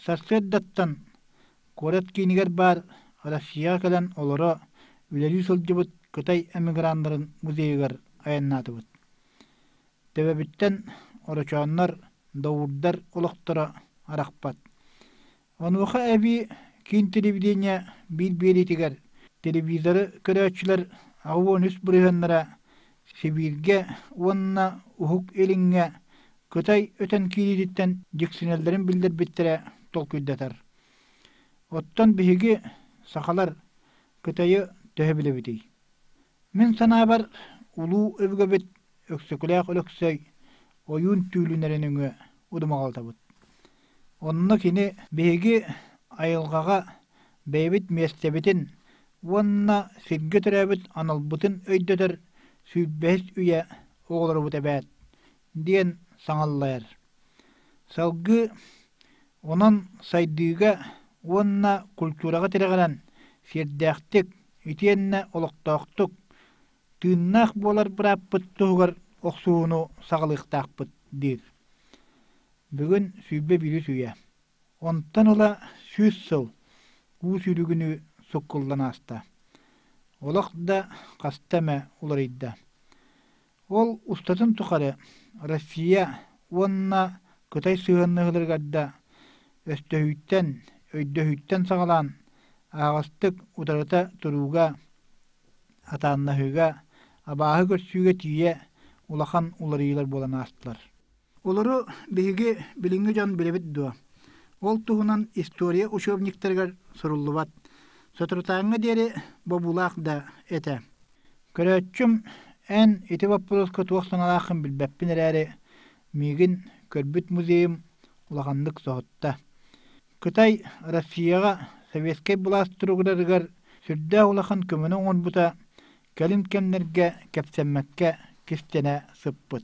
Сарсыардаттан куорат киинигэр баар Россияҕа кэлэн олоро үлэлии сылдьыбыт Кытай эмиграннарын музейыгар айаннаатыбыт. Төбөбүттэн орочооннор, доуурдар олохторо арахпат. Онуоха эбии киин телевидение биир биэриитигэр телевизору көрөөччүлэр аҕа үс бырыһыаннара Сибииргэ уонна Уһук Илиҥҥэ Кытай өтөн киириититтэн дьиксинэллэрин биллэрбиттэрэ толкуйдатар. Оттон биһиги, сахалар, Кытайы төһө билэбитий? Мин санаабар, улуу өбүгэбит Өксөкүлээх Өлөксөй ойуун түүлүнэрэ нөҥүө удумаҕалтабыт. Онно кини биһиги айылҕаҕа бэйэбит миэстэбитин уонна сиргэ төрөөбүт аналбытын өйдөтөр сүүрбэһис үйэ оҕолорубут эбээт диэн саҥаллар. Салгыы онон сайдыыга уонна культураҕа тирэҕирэн сиэрдээхтик итиэннэ олохтоохтук, тыыннаах буолар бырааппыт туһугар охсуһууну саҕалыахтаахпыт диир. Бүгүн сүүрбэ биирис үйэ. Онтон ыла сүүс сыл уу сүүрүгүнүү суккуллан ааста. Олох да хаста эмэ уларыйда. Ол устатын тухары Россия уонна Кытай сыһыаннаһыыларыгар да өстөһүүттэн, өйдөһүүттэн саҕалаан аһаҕастык утарыта турууга, атааннаһыыга, абааһы көрсүүгэ тиийэ улахан уларыйыылар буолан аастылар. Олору биһиги билиҥҥи дьон билэбит дуо? Ол туһунан история учебниктарыгар суруллубат. Соторутааҥҥа диэри бобуулаах да этэ. Көрөөччүм эн ити боппуруоска туох санаалааххын билбэппин эрээри, миигин көрбүт музейым улаханнык соһутта. Кытай Россияҕа советскай былаас туругурарыгар сүрдээх улахан көмөнү оҥорбута кэлин кэмнэргэ кэпсэммэккэ кистэнэ сыппыт.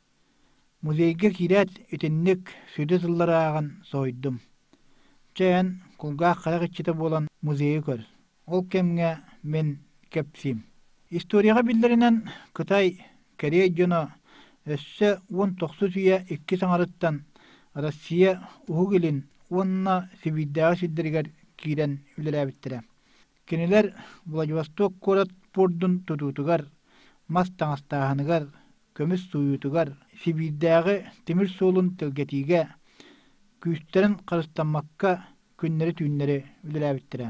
Музейга киирээт, итинник сүдү тыллары ааҕан соһуйдум. Чэ эн кулгаах харах иччитэ буолан музейы көр. Ол кэмҥэ мин кэпсиим. Историяҕа биллэринэн Кытай, Корея дьоно өссө уон тохсус үйэ иккис аҥарыттан Россия Уһук Илин уонна Сибиирдээҕи сирдэригэр киирэн үлэлээбиттэрэ. Кинилэр Владивосток куорат пуордун тутуутугар, мас таҥастааһыныгар, көмүс сууйуутугар, Сибиирдээҕи тимир суолун тэлгэтиигэ күүстэрин харыстаммакка күннэри-түүннэри үлэлээбиттэрэ.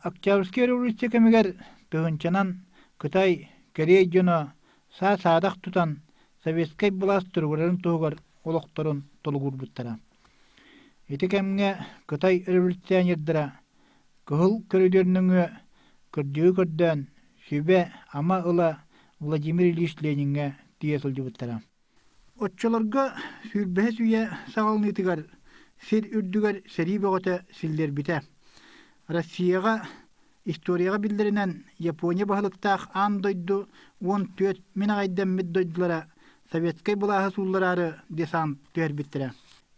Октябрьскай революция кэмигэр тыһыынчанан Кытай, Корея дьоно саа-саадах тутан советскай былаас туругурарын туһугар олохторун толугурбуттара. Ити кэмҥэ кытай революционердара кыһыл көрүдүөр нөҥүө кырдьыгы көрдөөн сүбэ-ама ыла Владимир Ильич Лениҥҥэ тиийэ сылдьыбыттара. Оччолорго сүүрбэһис үйэ саҕаланыытыгар сир үрдүгэр сэрии бөҕөтө силлэрбитэ. Россияҕа Историяҕа биллэринэн Япония баһылыктаах аан дойду уон түөрт мин аҕайдэммит дойдулара советскай былааһы сууллараары десант түһэрбиттэрэ.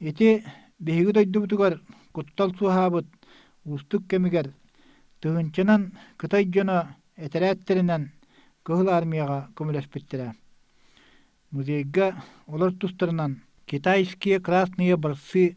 Ити биһиги дойдубутугар куттал суоһаабыт уустук кэмигэр тыһынчанан Кытай дьоно этэрээттэринэн Кыһыл Армияҕа көмөлөспүттэрэ. Музейга олор тустарынан Китайские красные борцы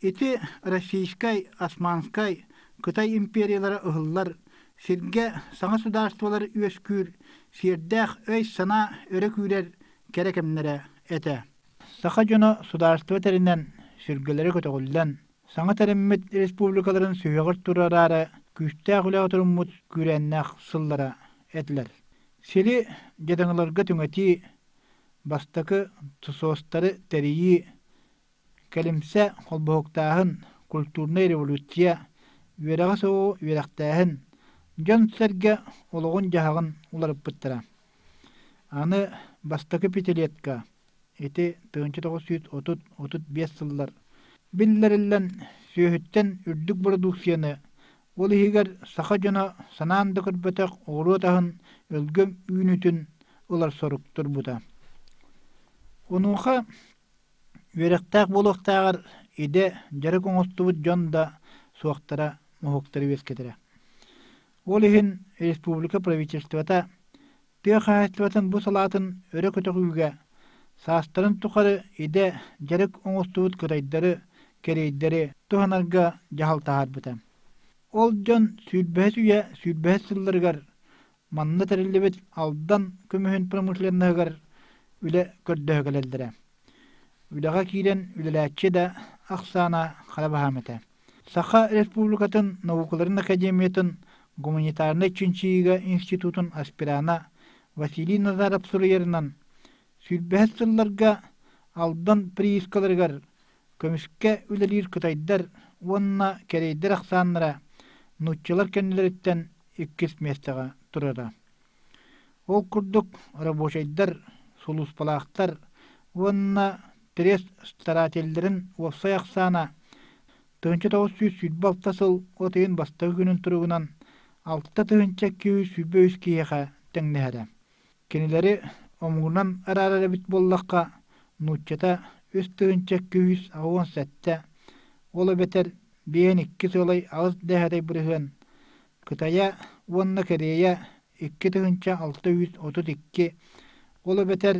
Ити Российскай, Османскай, Кытай империялара ыһыллар сиргэ саҥа судаарыстыбалар үөскүүр сиэрдээх өй-санаа өрө күүрэр кэрэ кэмнэрэ этэ. Саха дьоно судаарыстыба тэринэн, сүргэлэрэ көтөҕүллэн, саҥа тэриммит республикаларын сүһүөҕэр турараары күүстээх үлэҕэ туруммут күүрээннээх сыллара этилэр. Сири дьадаҥыларга түҥэтии, бастакы ТСОСтары тэрийии, Кэлимсэ холбоһуктааһын, культурнай революция, үөрэҕи-соҕу үөрэхтээһин дьон-сэргэ олоҕун-дьаһаҕын уларыппыттара. Аны бастакы пятилетка, ити тыһыынча тоҕус сүүс отут отут биэс сыллар, биллэриллэн сүөһүттэн үрдүк бородууксуйаны, ол иһигэр саха дьоно санаан да көрбөтөх оҕуруот аһын өлгөм үүнүүтүн ылар сорук турбута. Онуоха Үөрэхтээх буолуохтааҕар идэ дьарык оҥостубут дьон да суохтара уһуктары үөскэтэрэ. Ол иһин республика правительствота тыа хаһаайыстыбатын бу салаатын өрө көтөҕүүгэ саастарын тухары идэ дьарык оҥостубут кытайдары кэриэйдэри туһанарга дьаһал таһаарбыта. Ол дьон сүүрбэһис үйэ сүүрбэһис сылларыгар Манна тэриллибит Алдан көмүһүн промышленноһыгар үлэ көрдөһө кэлэллэрэ. Үлэҕэ киирэн үлэлээччи да ахсаана хара баһаам этэ. Саха Республикатын наукаларын академиятын гуманитарнай чинчийиигэ институтун аспирана Василий Назаров суруйарынан, сүүрбэһис сылларга Алдан приискаларыгар көмүскэ үлэлиир кытайдар уонна кэрэйдэр ахсааннара нууччалар кэннилэриттэн иккис миэстэҕэ турара. Ол курдук рабочайдар, сулууспалаахтар уонна пресс-старателлэрин уопсай ахсаана тыһыынча тоҕус сүүс сүүрбэ алта сыл от ыйын бастакы күнүн туругунан алта тыһыынча икки сүүрбэ үс киһиэхэ тэҥнэһэрэ. Кинилэри омугунан араара эбит буоллахха, нууччата үс тыһыынча күүс уон сэттэ, ол эбэтэр биэн иккис ыалай аҕыс дэһэрэй бырыһыан, Кытайа уонна Корея икки тыһыынча алта жүз отут икки, ол эбэтэр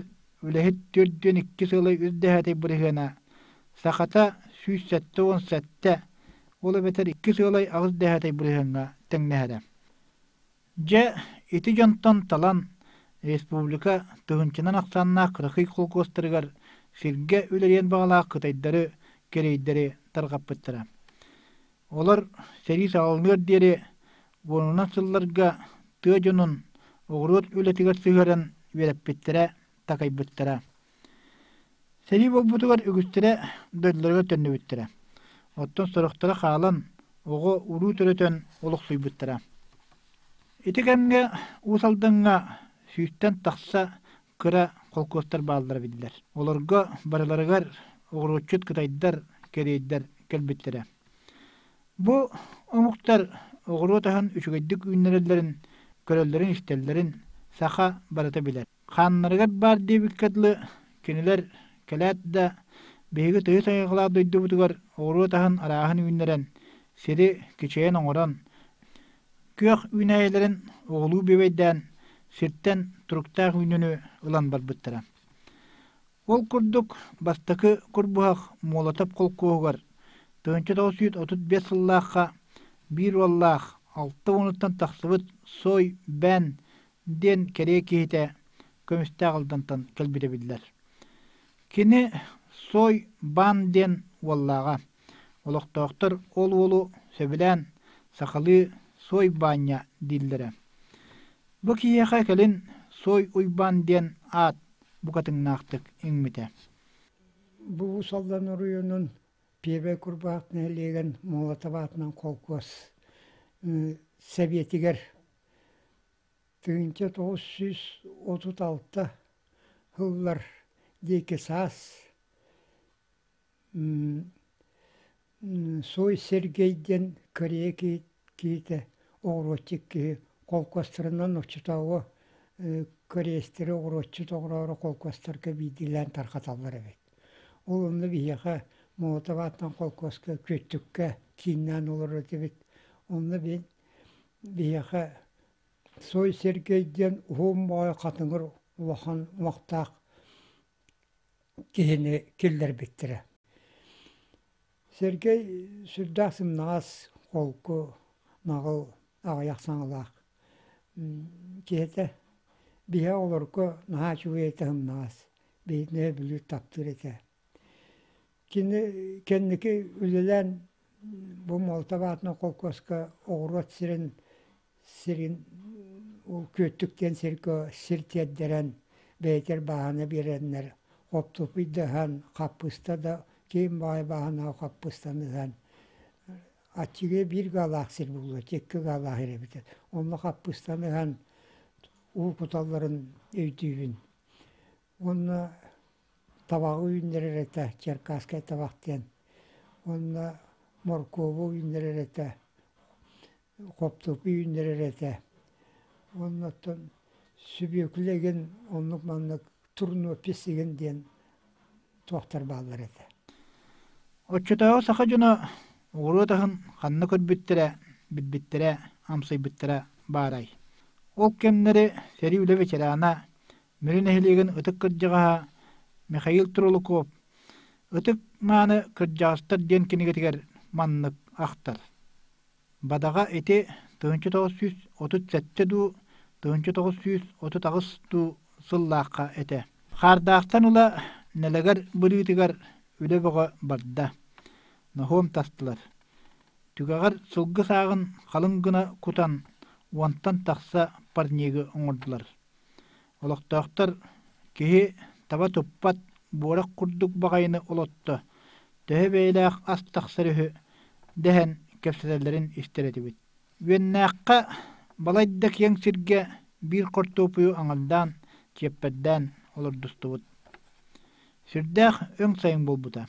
үлэһит түөрт диэн иккис ыалай үс дэһэрэй бырыһыана, сахата сүүс сэттэ уон сэттэ, ол эбэтэр иккис ыалай аҕыс дэһэрэй бырыһыаҥҥа тэҥнэһэрэ. Дьэ, ити дьонтон талан, республика тыһыынчанан ахсааннаах кыракый холкуостарыгар сиргэ үлэлиэн баҕалаах кытайдары кэриэйдэри тарҕаппыттара. Олор сэрии саҕаланыар диэри уонунан сылларга тыа дьонун оҕуруот үлэтигэр сыһыаран үөрэппиттэрэ, такайбыттара. Сэрии буолбутугар үгүстэрэ дойдуларыгар төннүбүттэрэ. Оттон сорохторо хаалан, оҕо уруу төрөтөн олохсуйбуттара. Ити кэмҥэ Уус Алдаҥҥа сүүстэн тахса кыра холкуостар бааллара биллэр. Олорго барыларыгар оҕуруотчут кытайдар, кэриэйдэр кэлбиттэрэ. Бу омуктар оҕуруот аһын үчүгэйдик үүннэрэллэрин, көрөллөрүн-истэллэрин саха барыта билэр. Хааннарыгар баар диэбиккэ дылы, кинилэр кэлээт да, биһиги тойот-айылҕалаах дойдубутугар оҕуруот аһын арааһын үүннэрэн, сири кичэйэн оҥорон, күөх үүнээйилэрин оҕулуу бүөбэйдээн, сиртэн туруктаах үүнньэни ылан барбыттара. Ол курдук бастакы курбуһах Муолатап холкуоһугар тыһыынча тоҕус сүүс отут биэс сыллаахха биир уоллаах, алта уонуттан тахсыбыт Сой Бээн диэн кэрэ киһитэ көмүстээх алдантан кэлбитэ биллэр. Кини Сой Бан диэн уоллааҕа. Олохтоохтор ол уолу сөбүлээн сахалыы Сой Баанньа дииллэрэ. Бу киһиэхэ кэлин Сой Уйбаан диэн аат букатыҥнаахтык иҥмитэ. Бу Уусалдан оройуонун Пиэбэ Курбаах нэһилиэгин Молотоватынан холкуос Сэбиэтигэр Тыһыынча тоҕус сүүс отут алта сыллар диэки саас Суой Сергей диэн корея киһитэ оҕуруотчут киһи холкуостарынан оччотооҕу кореецтары оҕуруотчут оҕороро холкуостарга биирдиилээн тарҕаталлар эбит. Ол онно биһиэхэ молотов аатынан холкуоска, Күөттүккэ кииннээн олорор этибит. Онно биһи Биһиэхэ Сой Сергей диэн уһун моой хатыҥыр улахан омуктаах киһини киллэрбиттэрэ. Сергей сүрдээх сымнаҕас, холку, наҕыл аҕыйах саҥалаах киһитэ. Биһиэхэ олорго наһаа үчүгэй этэ сымнаҕас, биһиги нөһү бүлүү таптыыр этэ. Кини кэнники үлэлээн бу Молотов аатынан холкуоска оҕуруот сирин сирин ол Күөттүк диэн сиргэ сир тиэрдэрэн бэйэтигэр бааһына биэрэннэр оптупуйдаһан хаппыыста да киин баҕайы бааһынааҕы хаппыыстаны ыһан аччыгы биир гаалаах сир буолуо икки гаалаах ир эбитэ онно хаппыыстаны ыһан уу куталларын өйдүүбүн Уонна табаҕы үүннэрэр этэ, черкасскай табах диэн. Уонна моркуобу үүннэрэр этэ, хоптурку үүннэрэр этэ. Уонна оттон сүбүөкүлэ игин оннук маннык турнопись игин диэн туохтар бааллар этэ. Оччотооҕу саха дьоно ууруот аһын ханна көрбүттэрэ, билбиттэрэ, амсайбыттара баарай? Ол кэмнэри сэрии үлэ ветерана Мүрү нэһилиэгин ытык кырдьаҕаһа Михаил Трулаков Ытык мааны кырдьаҕастар диэн кинигэтигэр маннык ахтар. Бадаҕа ити тыһыынча тоҕус сүүс отут сэттэ дуу, тыһыынча тоҕус сүүс отут аҕыс дуу сыллаахха этэ. Хаардаахтан ыла нэлэгэр быһыытыгар үлэ бөҕө барда. Ноһуом тастылар. Түгэҕэр сылгы сааҕын халыҥ гына кутан, уонтан тахса парнигы оҥордулар. Олохтоохтор киһи таба туппат буорах курдук баҕайыны олотто, төһө бэйэлээх ас тахсар үһү дэһэн кэпсэтэллэрин истэр этибит. Үөннээххэ балайда киэҥ сиргэ биир хортуопуйу аҥардаан, чиэппэрдээн олордустубут. Сирдээх өҥ сайын буолбута.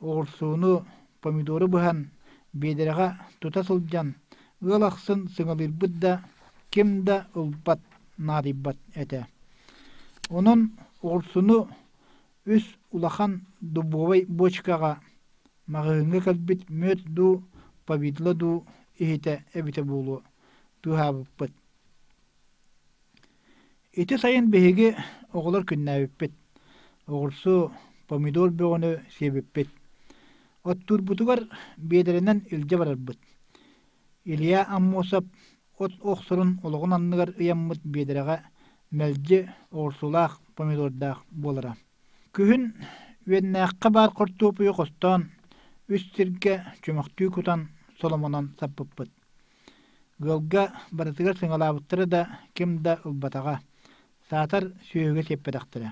оҕурсууну, помидору быһан, биэдэрэҕэ тута сылдьан, ыал ахсын сыҥалыырбыт да, ким да ылбат, наадыйбат этэ. Онон оҕурсуну үс улахан дубовай бочкаҕа, маҕаһыыҥҥа кэлбит мүөт дуу, повидло дуу иһитэ эбитэ буолуо, быыһаабыппыт. Ити сайын биһиги оҕолор күннээбиппит. Оҕурсу, помидор бөҕөнү сиэбиппит. Оттуурбутугар биэдэрэнэн илдьэ барарбыт. Илья Аммосов от охсорун олоҕун анныгар ыйаммыт биэдэрэҕэ мэлдьи оҕурсулаах, помидордаах буолара. Күһүн Үөннээххэ баар хортуопуйу хостоон, үс сиргэ чөмөхтүү кутан, соломонон саппыппыт. Ыалга барытыгар сыҥалаабыттара да, ким да ылбатаҕа, саатар сүөһүгэ сиэппэтэхтэрэ.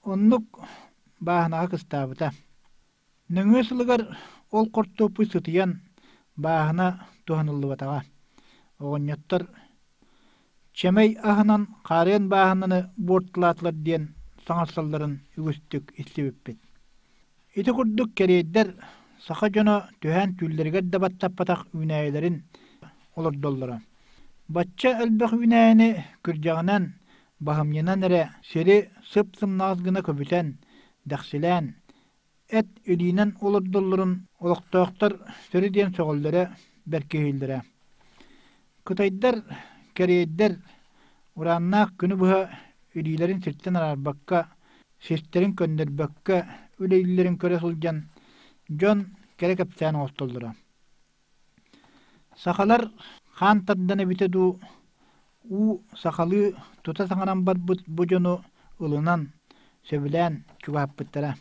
Оннук бааһынаҕа кыстаабыта. Нөҥүө сылыгар ол хортуоппуй сытыйан, бааһына туһаныллыбатаҕа. Оҕонньоттор чэмэй аһынан хаарыан бааһынаны буортулаатылар диэн саҥарсалларын үгүстүк истибиппит. Ити курдук кэриэйдэр саха дьоно түһээн түүллэригэр да баттаппатах үүнээйилэрин олордоллоро. Бачча элбэх үүнээйини күрдьэҕинэн, баһымньынан эрэ сири сып-сымнаҕас гына көбүтэн, дэхсилээн, эт илиинэн олордоллорун олохтоохтор сөрү диэн сөҕөллөрө бэркиһииллэрэ кытайдар кэриэйдэр урааннаах күнү быһа илиилэрин сиртэн араарбакка сиртэрин көннөрбөккө үлэлииллэрин көрө сылдьан дьон кэрэ кэпсээн оҥостоллоро Сахалар хаан тардан эбитэ дуу, уу сахалыы тута саҥаран барбыт бу дьону ылынан, сөбүлээн чугааппыттара.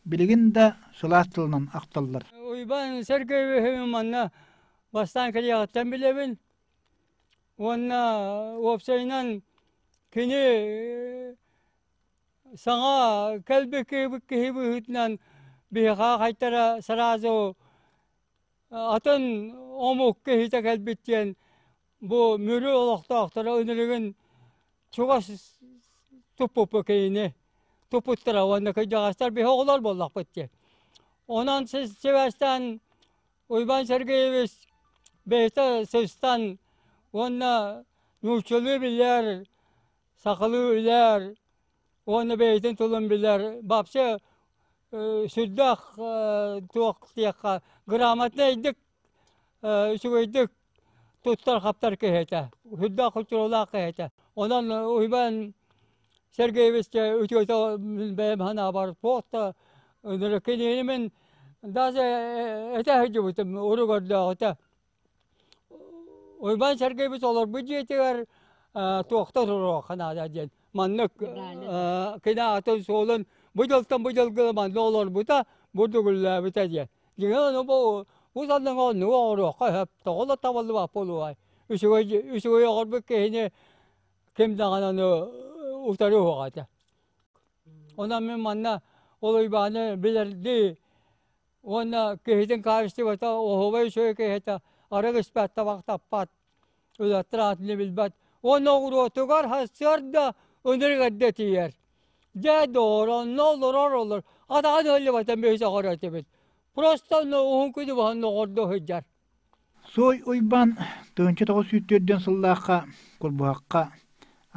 Билигин да сылаас тылынан ахталлар. Уйбаан Сергеевич манна бастаан кэлиэҕиттэн билэбин уонна уопсайынан кини саҥа кэлбит киһи быһыытынан биһиэхэ хайдара сразу Атын омук киһитэ кэлбит диэн бу Мүрү олохтоохторо ынырыгын чугас туппуппут кинини туппуттара уонна кырдьаҕастар биһи оҕолор буоллахпыт диэн. Онон сибээстээн Уйбаан Сергеевич бэйэтэ сыстан уонна нууччалыы билэр сахалыы билэр уонна бэйэтин тылын билэр вообще сүрдээх туох диэххэ грамотнайдык үчүгэйдик туттар-хаптар киһи этэ сүрдээх хочуолаах киһи этэ онон Уйбаан Сергеевичкэ үчүгэй бэйэм санаабар туох да кинини мин даже этэ сылдьыбытым уругэрдээҕитэ Уйбаан Сергеевич олорбут дьиэтигэр туохта туруохха наада диэн маннык кинаатын суолун бу дьылтан бу дьылга манна олорбута бу дүгүллээбитэ диэн дьиҥэ ону бу бу санаҥа оннук оҥоруохха сөп тоҕо да табыллыбат буолуой үчүгэй үчүгэй оҥорбут киһини ким даҕаны аны утары уһуох этэ онон мин манна ол Уйбааны билэрдии Уонна киһитин хаачыстыбата оһуобай үчүгэй киһитэ арыгы испэт табах таппат, үлэттэр аатыны билбэт. Уонна оҕуруотугар сарда ынырыгырда тиийэр. Дьэ, дооронно олорор олор, атаҕа дьыллыбатын бэһис оҕоро этибит. Просто уһун күнү баһан оҕордо сылдьар. Суой Уйбаан Тыынча тоҕо сүүттүөрдүөн сыллаахха курбуһахха,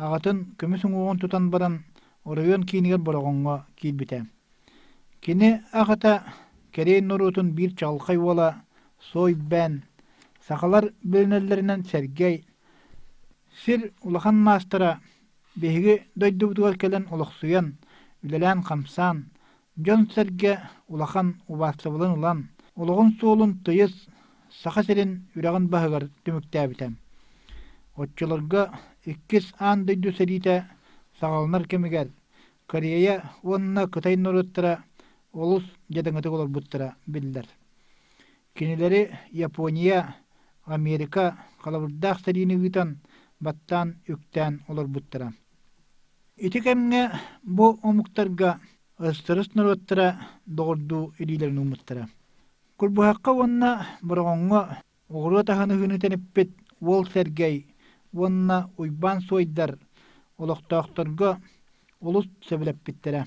аҕатын көмүс уҥуоҕун тутан баран, оройуон киинигэр Бороҕоҥҥо киирбитэ. Кини аҕата кэриэй норуотун биир чаҕылхай уола Суойбээн, сахалар билинэллэринэн Сэргэй, сир улахан маастара, биһиги дойдубутугар кэлэн олохсуйан, үлэлээн-хамсаан, дьон-сэргэ улахан убаастабылын ылан, олоҕун суолун тыйыс Саха сирин үрэҕин баһыгар түмүктээбитэ. Оччолорго иккис аан дойду сэриитэ саҕаланар кэмигэр Корея уонна Кытай норуоттара олус дьадаҥытык олорбуттара биллэр. Кинилэри Япония, Америка халабырдаах сэриини ыытан, баттаан-үктээн олорбуттара. Ити кэмҥэ бу омуктарга ыстырыс норуоттара доҕордуу илиилэрин ууммуттара. Курбуһахха уонна Бороҕоҥҥо оҕуруот аһыныһыыны тэниппит уол Сэргэй уонна Уйбаан Суойдар олохтоохторго олус сөбүлэппиттэрэ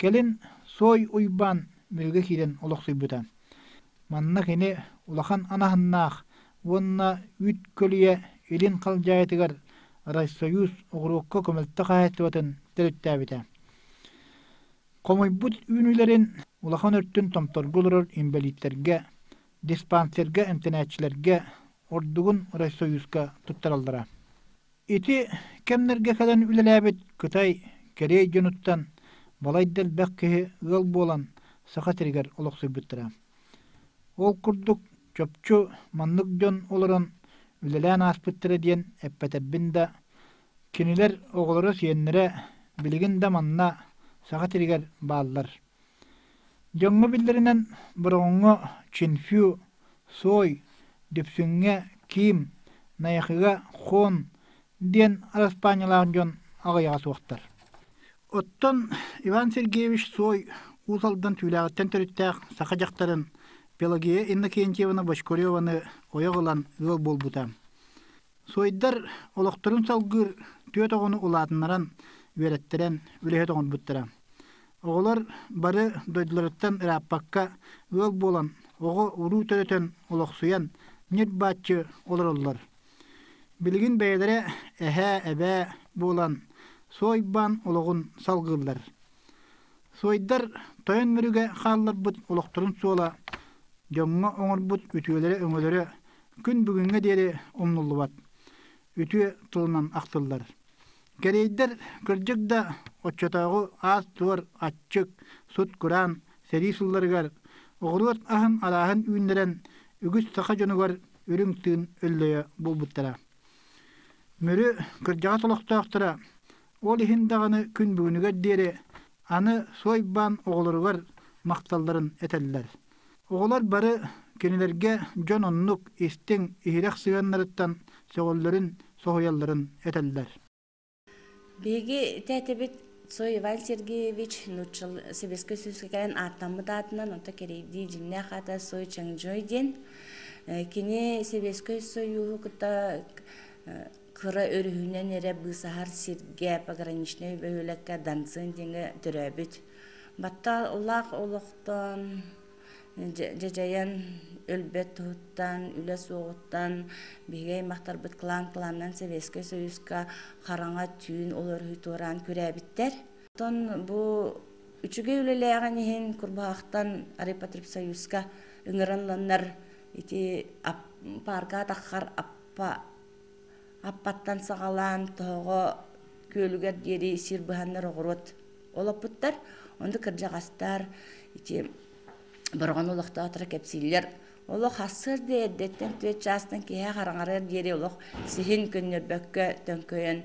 Кэлин Суой Уйбаан биһиги киирэн олохсуйбута. Манна кини улахан анаһыннаах уонна үүт көлүйэ илин халдьаайытыгар Райсоюз оҕуруокка көмөлтө хаһаайыстыбатын төрүттээбитэ. Хомуйбут үүнүүлэрин улахан өртүн томторго олорор инбэлииттэргэ, диспансерга эмтэнээччилэргэ, ордугун Райсоюзка туттараллара. Ити кэмнэргэ кэлэн үлэлээбит Кытай, Корея дьонуттан балайда элбэх киһи ыал буолан Саха сиригэр олохсуйбуттара. Ол курдук чопчу маннык дьон олорон үлэлээн ааспыттара диэн эппэтэрбин да, кинилэр оҕолоро-сиэннэрэ билигин да манна Саха сиригэр бааллар. Дьоҥҥо биллэринэн Бороҕоҥҥо Чинфю, Суой, Дүпсүҥҥэ Киим, Найахыга Хон диэн араспаанньалаах дьон аҕыйаҕа суохтар. Оттон Иван Сергеевич Суой Уус Алдан Түүлээҕиттэн төрүттээх саха дьахтарын Пелагея Иннокентьевна Бочкареваны ойох ылан ыал буолбута. Суойдар олохторун салгыыр түөрт оҕону улаатыннаран, үөрэттэрэн, үлэһит оҥорбуттара. Оҕолор бары дойдуларыттан ырааппакка ыал буолан, оҕо-уруу төрөтөн, олохсуйан, ньир-бааччы олороллор. Билигин бэйэлэрэ эһээ, эбээ буолан, суой-баан олоҕун салгыыллар. Суойдар тойон мүрүгэ хаалларбыт олохторун суола, дьоҥҥо оҥорбут үтүөлэрэ-өҥөлөрө күн бүгүҥҥэ диэри умнуллубат үтүө тылынан ахтыллар. Кэриэйдэр кырдьык да оччотооҕу аас-туор аччык, сут-кураан сэрии сылларыгар оҕуруот аһын арааһын үүннэрэн үгүс саха дьонугар үрүҥ тыын өллөйө буолбуттара. Мүрү кырдьаҕас олохтоохторо ол иһин даҕаны күн бүгүнүгэр диэри аны суой баан оҕолоругар махталларын этэллэр. Оҕолор бары кинилэргэ дьон оннук истиҥ, иһирэх сыһыаннарыттан сөҕөллөрүн, соһуйалларын этэллэр. Биһиги тээтэбит Цой Иван Сергеевич нууччал сэбиэскэй сүүскээн ааттаммыт аатынан онто кэрийдии дьиннээх аата Сой Чангжой диэн кини Сэбиэскэй Союһу кытта кыра өрүһүнэн эрэ быысаһар сиргэ пограничнай бөһүөлэккэ дансын диэҥҥэ төрөөбүт батталлаах олохтоон дьадьайан өлбөт туһуттан үлэ суоҕуттан биһиги аймахтарбыт клан кланынан Советскай Союзка хараҥа түүн уларыһыы туораан күрээбиттэр оттон бу үчүгэй үлэлээҕин иһин курбаахтан Репотреб Союзка ыҥырылланнар ити паарка атаххар аппа Аппаттан саҕалаан тоһоҕо күөлүгэр диэри сир быһаннар оҕуруот олоппуттар. Онду кырдьаҕастар ити Бороҕон олохтоохторо кэпсииллэр. Олох ассырдыы эрдэттэн түөрт чаастан киэһэ хараҥарыар диэри олох сиһин көннөрбөккө төҥкөйөн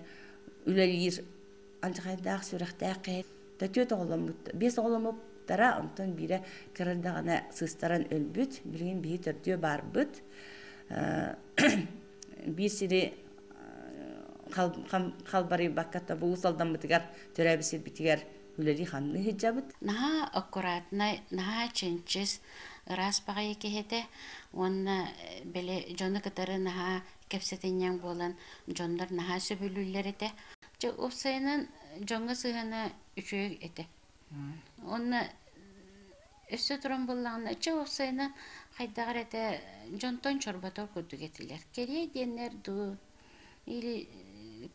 үлэлиир алдьархайдаах сүрэхтээх кэһэ да түөрт оҕоломмут биэс оҕоломмуттара онтон биирэ кырырдаҕына сыыстаран өлбүт билигин биһи төрдүө баарбыт биир сири халбарыйбакка тобулус алдаммытыгар төрөөбүт сирбитигэр үлэлии ханныы сылдьабыт наһаа аккуратнай наһаа чинчис ыраас баҕайы киһитэ уонна били дьону кытары наһаа кэпсэтинньэҥ буолан дьоннор наһаа сөбүлүүллэр этэ Дьэ, ол сайынан дьоҥҥо сыһана үчүгэй этэ. Уонна өссө туран буоллаҕына, чэ ол сайына хайдах эрэ дьонтон чорботор курдук этилэр. Кэлиэй диэннэр дуу, или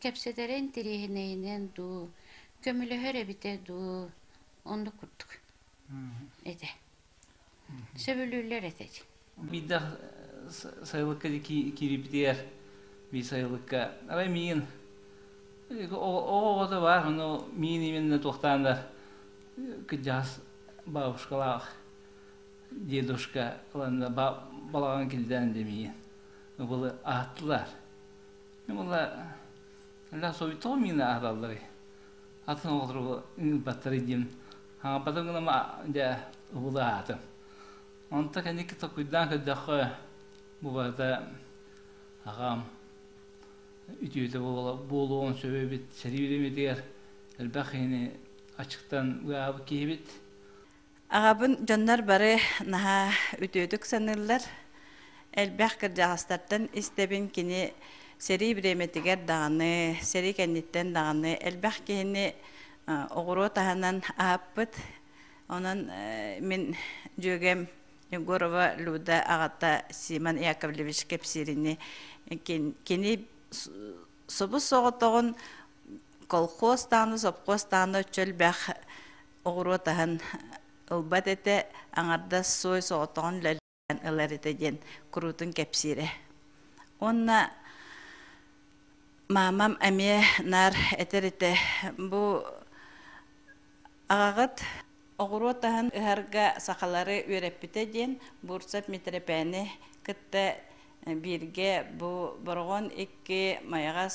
кэпсэтэрэ интэриэһинэйинэн дуу, көмөлөһөр эбитэ дуу, оннук курдук этэ. Сөбүлүүллэр этэй. Биирдэ сайылыкка киирбитигэр би сайылыкка арай миин оҕото бар ону миин именно туохтаан да кырдьаҕас бабушкалаах дедушка ыланна балаҕан килдээн дэмиин был ааттылар була ля совитого мина аhdаллары атын оҕолору баттары дим хаҥаппатын гына дьэ уулаатым. Онто кэнники токуйдаан көрдөххө, бу барыта аҕам үтүөтэ буолуон сөп эбит. Сэрии үлэмитигэр элбэх киһини аччыктан ыаабыт киһибит. Аҕабын дьоннор бары наһаа үтүөтүк саныыллар. Элбэх кырдьаҕастартан истэбин кини сэрии бириэмэтигэр даҕаны, сэрии кэнниттэн даҕаны элбэх киһини оҕуруо таһынан ааппыт онон мин дьүөгэм Егорова Люда аҕата Симон Яковлевич кэпсиирини кини субус соҕотоҕун колхоз тааны сопхуос тааны чөлбөх оҕуруо таһын ылбат этэ аҥардас суой соҕотоҕун ылар этэ диэн куруутун кэпсиирэ. Уонна маамам эмиэ наар этэр этэ бу аҕаҕыт оҕуруот аһын ыһарга сахалары үөрэппитэ диэн Бурцев Митрэпээни кытта бииргэ бу Бороҕон икки Майаҕас